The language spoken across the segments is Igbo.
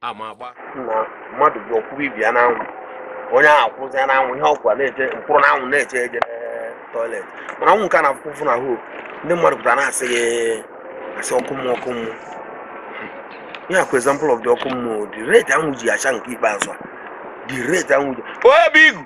ama agba na mmadụ bụ ọ kwụrụ ibe ya n'anwụ onye ahụ akwụzi ya n'anwụ ihe ọkwa na-eche mkpụrụ n'anwụ na-eche ije toilet mana anwụ nke a na-afụ ụfụ na hoo ndị mmadụ pụtara na-asị gị asị ọkụ mmụọ ọkụ mmụọ ihe a kwa example of the ọkụ mmụọ the rate anwụ ji acha nke ikpeazụ a the rate anwụ ji obi igu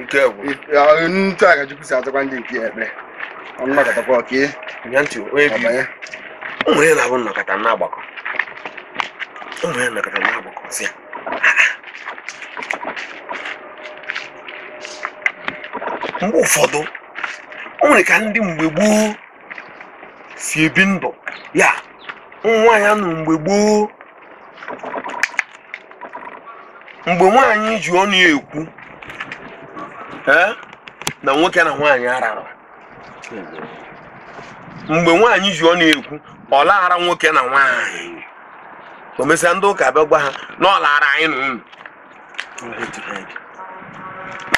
nke bụ otu a ka chukwu si azakwa ndị nke ya ekpere ọnụ nọkọtakwa ọka ihe ya ntị onye bi ọbanye ụmụ ya na-abụ nnọkọta na-agbakọ ụmụ ya nnọkọta na-agbakọ si ya mgbe ụfọdụ o nwere ka ndị mgbe gboo si ebi ndụ ya ụmụ nwaanyị anụ mgbe gboo mgbe nwaanyị ji ọnụ ya ekwu ee, na nwoke na nwaanyị arara mgbe nwaanyị ji ọnụ ya ekwu ọ laghara nwoke na nwaanyị o mesịa ndị ụka bịa gwa ha na ọ laghara anyị na unu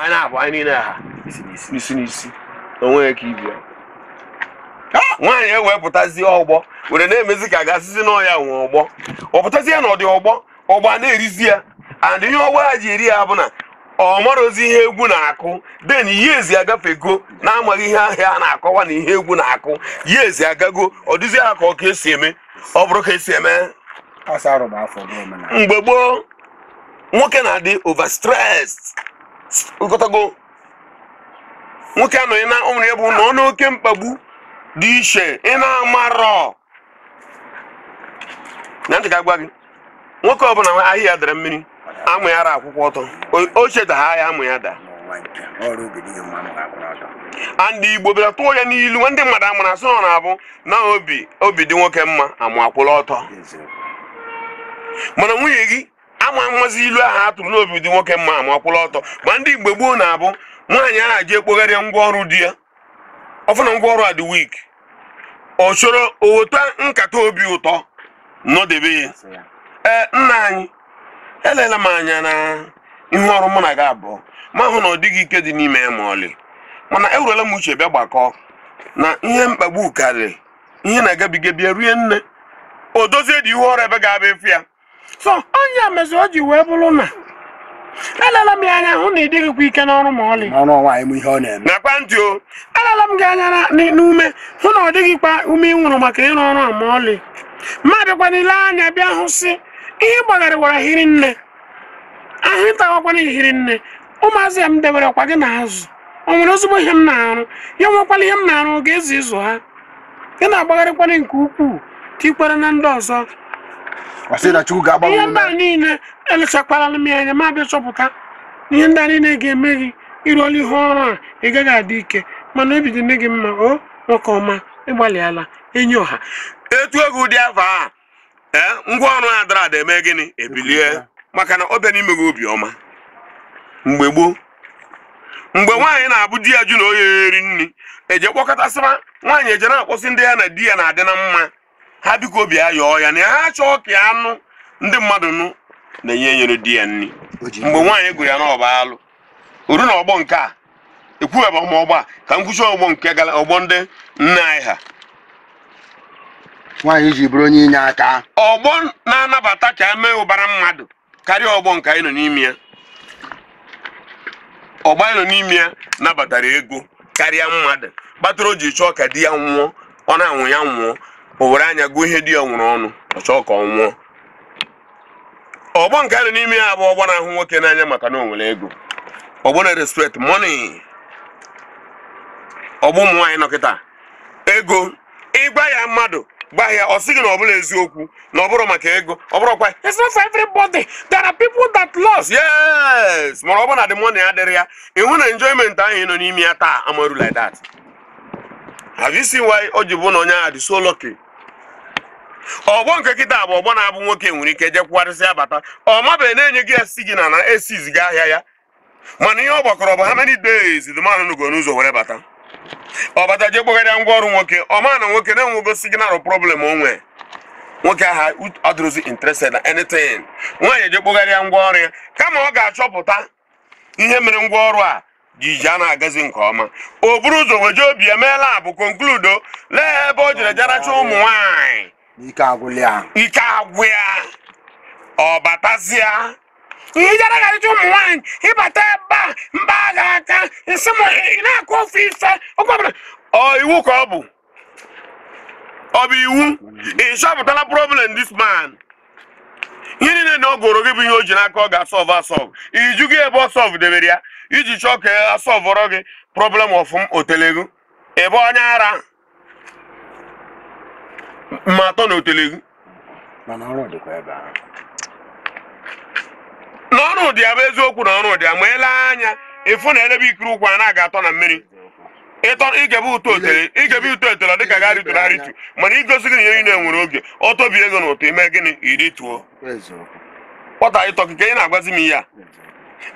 anyị na-abụ anyị niile ha n'isi n'isi o nweghị ka ibe ya nwaanyị ewepụtazie ọgbọ were na-emezi ka a ga-asịzi na ọ ya nwe ọgbọ ọ pụtazie na ọ dị ọgbọ ọgbọ a na-erizi ya and ihe ọgbọ ha ji eri ya bụ na ọ marọzi ihe egwu na-akụ then years agafego na-amaghị ihe ahịa a na-akọwa na ihe egwu na-akụ years agago ọ dịzi ya ka ọ ka e si eme ọ bụrụ ka e si eme mgbe gboo nwoke na-adị overstressed ị ghọtago nwoke anọghị na ụmụrụ ya bụ na ọ nọ n'oke mkpagbu dị iche ị na-amarọ aunty ka m gwa gị nwoke ọbụla ahịa ya dara mmiri amụ ya ara akwụkwa ọtọ o cheta ahịa ya amụ ya daa and igbo bịara tụọ ya n'ilu ndị mmadụ amara a sị na ọ na-abụ na obi obi dị nwoke mma amụ akwụla ọtọ mana nwunye gị ama amazi ilu ahụ a tụrụ na obi dị nwoke mma amụ akwụla ọtọ ma ndị mgbe gboo na-abụ nwaanyị ahụ ji ekpogharịa ngwa ọrụ di ya ọ fụ na ngwa ọrụ a dị weak ọ chọrọ o weta nkata obi ụtọ nọdebe ya ee nna anyị elela m anya na ihe ọrụ mụ na gị abụọ ma hụ na ọ dịghị ike dị n'ime ya ma ọlị mana ewerela m uche bịa gbakọọ na ihe mkpagbu karịrị ihe na-agabiga bịa rie nne o dozie dị ihu ọrụ ebe ga-abụ efu ya so onye mezi o ji wee bụrụ na elela m ya anya hụ na ị dịghịkwa ike n'ọrụ ma ọlị ọrụ nwaanyị m ihe ọ na-eme nakwa ntị o elela m gị anya na- n- n'ume hụ na ọ dịghịkwa ume i nwere maka ịrụ ọrụ a ma ọlị ma bịakwa lee anya bịa hụ sị ihe gbagharịwara hiri nne ahụ ịtawakwana hiri nne ụmụazị ya m debere kwa gị n'azụ o nwere ozugbo ihe m na-arụ ya nwekwala ihe m na-arụ oge ezi ịzụ ha ị na-agbagharịkwara nke ukwuu tikwara na ndị ọzọ ọ sị na chukwu ga-agbanwe ihe ndị a niile elechakwala m ya anya ma bịa chọpụta na ihe ndị a niile ga-eme gị ị rụọla ihe ọrụ a ị gaghị adị ike mana obi dị nne gị mma o nwoke ọma ị gbalịala enyi ọha etu ọ ga-adị afọ a ee ngwa ọrụ a dara ada eme gịnị ebilie maka na ọ bịa n'ime gị obiọma mgbe gboo mgbe nwaanyị na-abụ di ya jụ na ọ ya-eri nri eje kpọkọtasịba nwaanyị eje na-akpọsị ndị ya na di ya na-adị na mma ha biko ọ bịa yọọ ya na ya ha chọọ ka a nụ ndị mmadụ nụ na-enye enyere di ya nri mgbe nwaanyị gụrụ ya na ọ bụ alụ o ruo na ọgbọ nke a ekwughaba m ọgbọ a ka m kwuchie ọgbọ nke gara ọgbọ ndị nne anyị ha nwaanyị ji bụrụ onye inye aka ọgbọ na-anabata ka e mee ụbara mmadụ karịa ọgbọ nke anyị nọ n'ime ya ọgbọ anyị nọ n'ime ya nabatara ego karịa mmadụ kpatara o ji chọọ ka di ya nwụọ ọ na-anwụ ya nwụọ o were anya gụọ ihe di ya nwere ọnụ ọ chọọ ka ọ nwụọ ọgbọ nke anyị nọ n'ime ya bụ ọgbọ na-ahụ nwoke n'anya maka na o nwere ego ọgbọ na-respect money ọgbọ ụmụ nwaanyị nọ kịta ego ị gwa ya mmadụ gwa ya ọ sị gị na ọ bụla eziokwu na ọ bụrụ maka ego ọ bụrụ kwa it's not for everybody there are people that lost yes mana ọ bụ na the money adịrị ya ị hụ na enjoyment ahụ ị nọ n'ime ya taa amaru like that have you seen why o ji bụ na onye ahụ dị so lucky ọgbọ nke kịta bụ ọgbọ na-abụ nwoke nwere ike je kwụgharịsịa bata ọ mabeghị na-enye gị ya signal na esiziga ahịa ya mana ihe ọ gbakọrọ bụ how many days the man nọgo n'ụzọ were bata ọ bata je kpogharịa ngwa ọrụ nwoke ọ ma na nwoke na-enwego signal problem o nwee nwoke ahụ adịrụzi interested na anything nwaanyị je kpogharịa ngwa ọrụ ya kama ọ ga-achọpụta ihe mere ngwa ọrụ a ji ji a na-agazi nke ọma o buru ụzọ weje obi ya emeela bụ conclude lee ebe o jere je rachaa ụmụ nwanyị ike agwụ ya ọ batazịa ihe jara garacha ụmụ nwanyị ị bata ebe a mba agha aka nsị m ị na-akọ ofu ife oge ọbụla ọ iwu ka ọ bụ ọ bụ iwu ị chọpụtala problem this man ihe niile na ọ gụrụ gị bụ ihe o ji n'aka ọ ga-asolve asolve iju gị ebe ọ solve debere ya i ji chọọ ka a solvọrọ gị problem ọ fụ m o telego ị bụ onye ara ma atọ na o telego mana ọrụ dịkwa ebe ahụ na ọrụ dị ya bụ eziokwu na ọrụ dị ya ma ele anya ịfụ na elebe ikiri ụkwụ a na-aga atọ na mmiri ịtọ igebe ụtọ otele igebe ụtọ otele ọ dịka gari tụrụ arịtu mana igosi gị na ihe niile nwere oge ọ tọbigo na ụtọ ime gịnị irituo eziokwu kpọta ịtọ gị ka ị na-agwazi m ihe a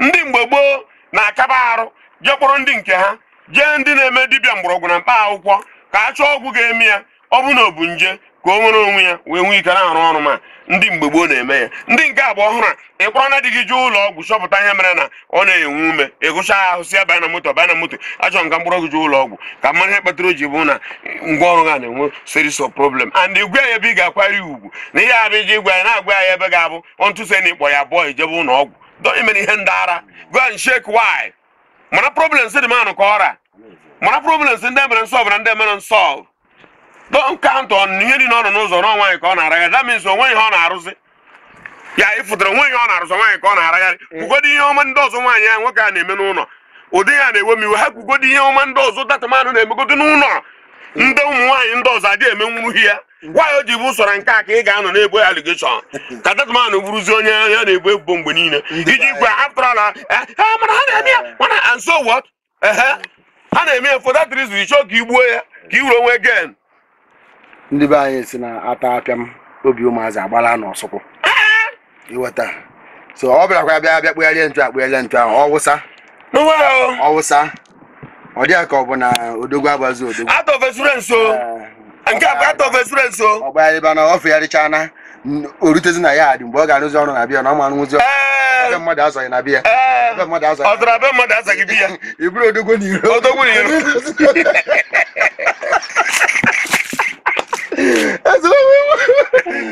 ndị mgbe gboo na-akaba arụ jee kpọrọ ndị nke ha jee ndị na-eme dibịa mgbọrọgwụ na mkpa akwụkwọ ka a chọọ ọgwụ ga-eme ya ọ bụ na ọ bụ nje ka o nwere onwe ya wee nwee ike na-arụ ọrụ ma ndị mgbe gboo na-eme ya ndị nke agba ọhụrụ a ịkpọrọ na di gị jee ụlọ ọgwụ chọpụta ihe mere na ọ na-enwe ume ịgụcha ahụ si ya baa na moto baa na moto achọ m ka m kpọrọ gị jee ụlọ ọgwụ ka a mara ihe kpatara o ji bụ na ngwa ọrụ ha na-enwe series of problem and ịgwa ya ebe ị ga-akwari ugwu na ihe abịa iji gwa ya na-agwa ya ebe ga-abụ ọntụse na ịkpọ ya bọọ ijebe ụlọ ọgwụ dọnyemere ihe ndị ara go and check why mara problems dị manụ ka ọra mara problems ndị e mere nsolve na ndị e mere nsolve don't count on ihe dị n'ọnụ ụzọ na nwaanyị ka ọ na-aragharị that means o nwe ihe ọ na-arụzi ya ịfụtara o nwe ihe ọ na-arụzi nwaanyị ka ọ na-aragharị kwugodi ihe ọma ndị ọzọ nwaanyị ya nwoke a na-eme n'ụlọ ụdị ya na-ewe m iwe ha kwugodi ihe ọma ndị ọzọ that man ahụ na-emegodo n'ụlọ ndị ụmụ nwaanyị ndị ọzọ adịghị emenwuru ya why o ji bụ sọsọ nke a ka ị ga-anọ na-ebo ya allegation ka that man bụrụzi onye a na-ebo ebubo mgbe niile ijikwa after all mana ha na-eme ya mana and so what ehe ha na-eme ya for that reason ị chọ ka i gbuo ya ka i nwere onwe gị ndị be anyị si na ata pịam obi ụmụazị agbala n'osukwu ịghọta so ọ bịakwa bịa bịa kpụgharịa ntu akpụgharịa ntu ahụ ọwụsa ọwụsa ọ dị ya ka ọ bụ na odogwu agbazi odogwu out of experience o eh, nke a bụ out of experience o ọ gbagharịba na ọ fegharịcha na o rutezi na ya dị mgbe ọ ga-arụzi ọrụ na bịa na ọ ma arụzi ọrụ eh. ebe mmadụ azọghị na bịa eh. ebe mmadụ azọghị ọtara ebe mmadụ azọghị bịa ị bụrụ odogwu n'iro odogwu n'iro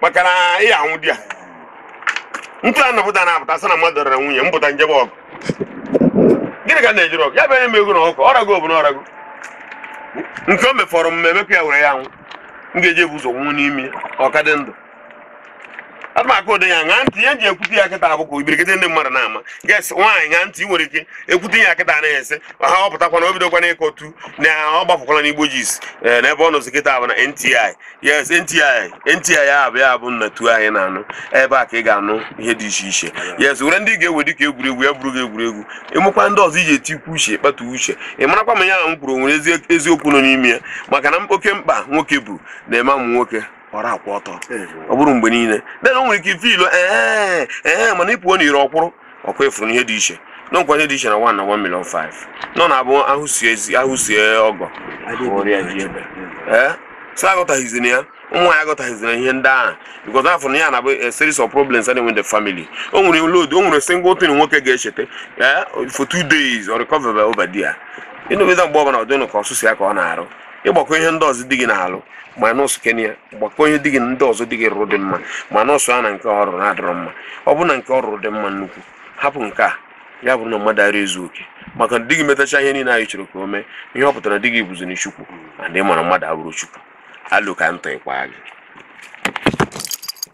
maka na ị anwụ di ya ntụ a napụta na apụta sị na mmadụ rara nwunye m pụta m jebe ọgụ gịnị ka na-ejiri ọgụ ya bụ enye m ego na ọgụ ọ rago bụ na ọ rago nke o mefọrọ m emekwa ya were ya nwụ m ga-eji ebu ụzọ nwụọ n'ime ọka dị ndụ ana m aka ụdị ya ṅaa ntị ihe ji ekwute ya kịta abụkwa ibirikịta ndị mmadụ na-ama guess nwaanyị ṅaa ntị ị nwere ike ekwute ya kịta anaghị ese ha ọ pụtakwana o bidokwana ịkọtu na ọ gbapụkwala n'igbo gist n'ebe ọ nọzi kịta bụ na ntị yes ntị ntị ya bụ ya bụ nnatu anyị na-anụ ebe a ka ị ga-anụ ihe dị iche iche yes were ndị ga-ewe dị ka egwuregwu ya bụrụ gị egwuregwu e nwekwa ndị ọzọ iji etikwu uche kpatụ uche ị marakwa ma ya ahụ m kwuru nwere eziokwu nọ n'ime ya maka na oke mkpa nwoke bụ na-eme amụ nwoke ọra akwụ ọtọ ọ bụrụ mgbe niile then o nwere ike ife ilo ee ee mana ị pụọ n'iro ọ kwụrụ ọ kwa ị fụrụ na ihe dị iche dịkwa ihe dị iche na 1 na 1 million 5 nọ na-abụ ahụ sie ezi ahụ sie ọgọ ọrịa ji ebe ee so aghọtaghịzi na ya ụmụ nwaanyị aghọtaghịzi na ihe ndị ahụ because a fụrụ na ha na-abụ a series of problems and in the family o nwere load o nwere single thing nwoke ga-echeta ee for two days or recover over there ịnụbịda mgbe ọbụla ọ dịnụ ka ọ sọsọ ya ka ọ na-arụ ị gbakọọ ihe ndị ọzọ di gị na-alụ minusuo nke a gbakọọ ihe di gị ndị ọzọ di gị rụrụ dị mma minusuo ya na nke ọ rụrụ na-adịrọ mma ọ bụ na nke ọ rụrụ dị mma nnukwu hapụ nke a ya bụrụ na mmadụ ara ezu oke maka na di gị metacha ihe niile anyị chọrọ ka o mee ihe ọ pụtara di gị bụziri chukwu and ị mara mmadụ abụrọ chukwu alụ ka ntọ ịkwa gị